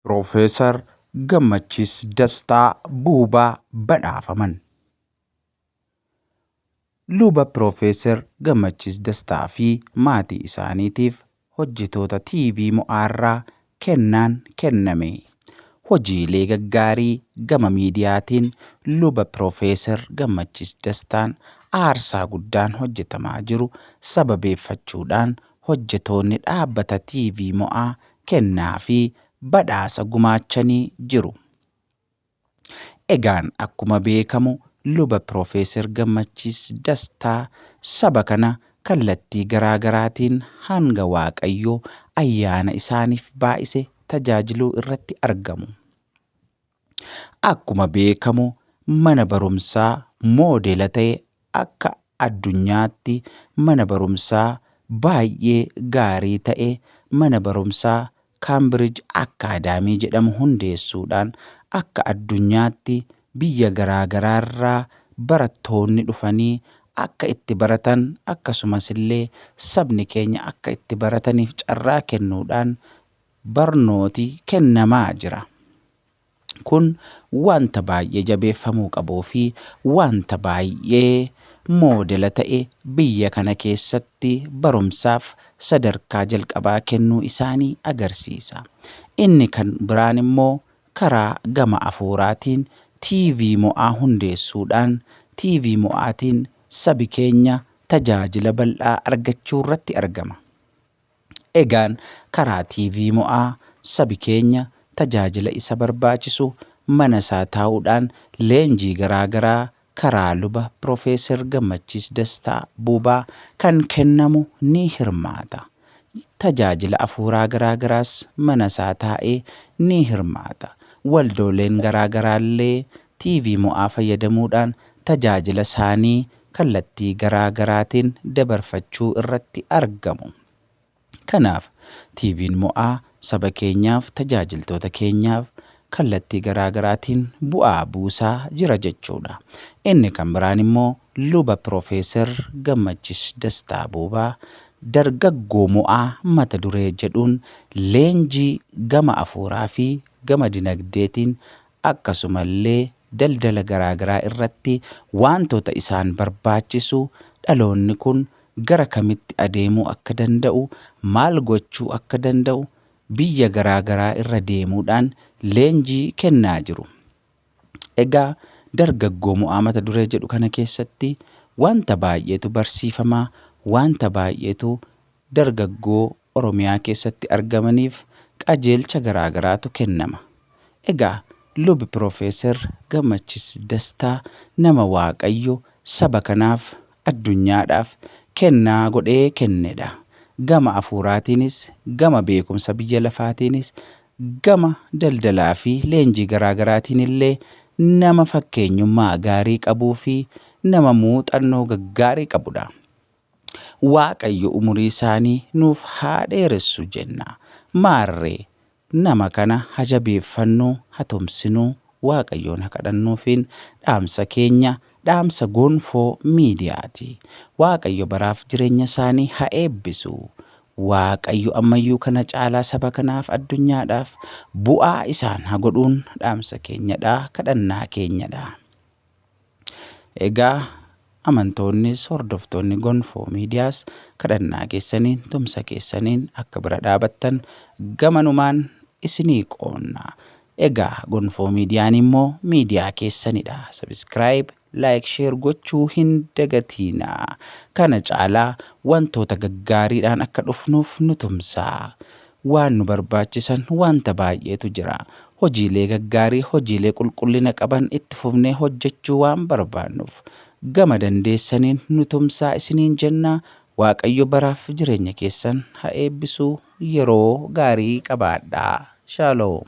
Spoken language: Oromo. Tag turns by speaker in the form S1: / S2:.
S1: Piroofeesar Gammachiis Dastaa Buubaa badhaafaman. Luba Piroofeesar Gammachiis Dastaa fi maatii isaaniitiif hojjetoota TV Mo'aarraa kennaan kenname. Hojiilee gaggaarii gama miidiyaatiin Luba Piroofeesar Gammachiis Dastaan aarsaa guddaan hojjetamaa jiru sababeeffachuudhaan hojjetoonni dhaabbata TV Mo'aa kennaa fi badhaasa gumaachanii jiru. Egaan akkuma beekamu Luba Piroofeeser Gammachiis Dastaa saba kana kallattii garaa garaatiin hanga Waaqayyo ayyaana isaaniif baay'ise tajaajiluu irratti argamu. Akkuma beekamu mana barumsaa moodela ta'e akka addunyaatti mana barumsaa baay'ee gaarii ta'e mana barumsaa Kaambirij Akkaadaamii jedhamu hundeessuudhaan akka addunyaatti biyya garaa garaarraa barattoonni dhufanii akka itti baratan akkasumas illee sabni keenya akka itti barataniif carraa kennuudhaan barnooti kennamaa jira. Kun wanta baay'ee jabeeffamuu qabuu fi wanta baay'ee moodela ta'e biyya kana keessatti barumsaaf sadarkaa jalqabaa kennuu isaanii agarsiisa. Inni kan biraan immoo karaa gama afuuraatiin TV Mo'aa hundeessuudhaan TV Mo'aatiin sabi keenya tajaajila bal'aa argachuurratti argama. Egaan karaa TV Mo'aa sabi keenya tajaajila isa barbaachisu mana isaa taa'uudhaan leenjii garaa garaa karaa luba Pirofeeser Gammachiis Dastaa Buubaa kan kennamu ni hirmaata. Tajaajila afuuraa garaa garaas mana isaa taa'ee ni hirmaata. Waldooleen garaa garaallee TV Mo'aa fayyadamuudhaan tajaajila isaanii kallattii garaa garaatiin dabarfachuu irratti argamu. Kanaaf, TVn Mo'aa saba keenyaaf, tajaajiltoota keenyaaf kallattii garaa garaatiin bu'aa buusaa jira jechuudha. Inni kan biraan immoo Luba Piroofeeser Gammachis Dastaa Boobaa Dargaggoo Mo'aa mata duree jedhuun leenjii gama afuuraa fi gama dinagdeetiin akkasuma illee daldala garaagaraa irratti waantoota isaan barbaachisu dhaloonni kun gara kamitti adeemuu akka danda'u, maal gochuu akka danda'u biyya garaagaraa irra deemuudhaan leenjii kennaa jiru. Egaa dargaggoo mo'aa mata duree jedhu kana keessatti waanta baay'eetu barsiifama, waanta baay'eetu dargaggoo Oromiyaa keessatti argamaniif qajeelcha garaa garaatu kennama. Egaa Lub Pirofeeser Gammachiis Dastaa nama Waaqayyo saba kanaaf, addunyaadhaaf kennaa godhee kennedha. Gama afuuraatiinis, gama beekumsa biyya lafaatiinis, gama daldalaa fi leenjii garaa garaatiin illee nama fakkeenyummaa gaarii qabuu fi nama muuxannoo gaggaarii qabudha. Waaqayyo umurii isaanii nuuf haa dheeressu jenna. Maarree, nama kana ha jabeeffannu, ha tumsinu, Waaqayyoon ha kadhannuufiin dhaamsa keenya, dhaamsa Gonfoo Miidiyaati. Waaqayyo baraaf jireenya isaanii ha eebbisu. Waaqayyo ammayyuu kana caalaa saba kanaaf, addunyaadhaaf bu'aa isaan ha godhuun dhaamsa keenyadha, kadhannaa keenyadha. Egaa amantoonnis hordoftoonni gonfoo miidiyaas kadhannaa keessaniin tumsa keessaniin akka bira dhaabattan gamanumaan isinii qoonna. Egaa gonfoo miidiyaan immoo miidiyaa keessanidha. Sabiskiraayib, laayik, sheer gochuu hin dagatiina. Kana caalaa wantoota gaggaariidhaan akka dhufnuuf nu tumsaa. Waan nu barbaachisan wanta baay'eetu jira. Hojiilee gaggaarii, hojiilee qulqullina qaban itti fufnee hojjechuu waan barbaannuuf, gama dandeessaniin nu tumsaa isiniin jenna. Waaqayyo baraaf jireenya keessan ha eebbisu. Yeroo gaarii qabaadhaa. Shalom.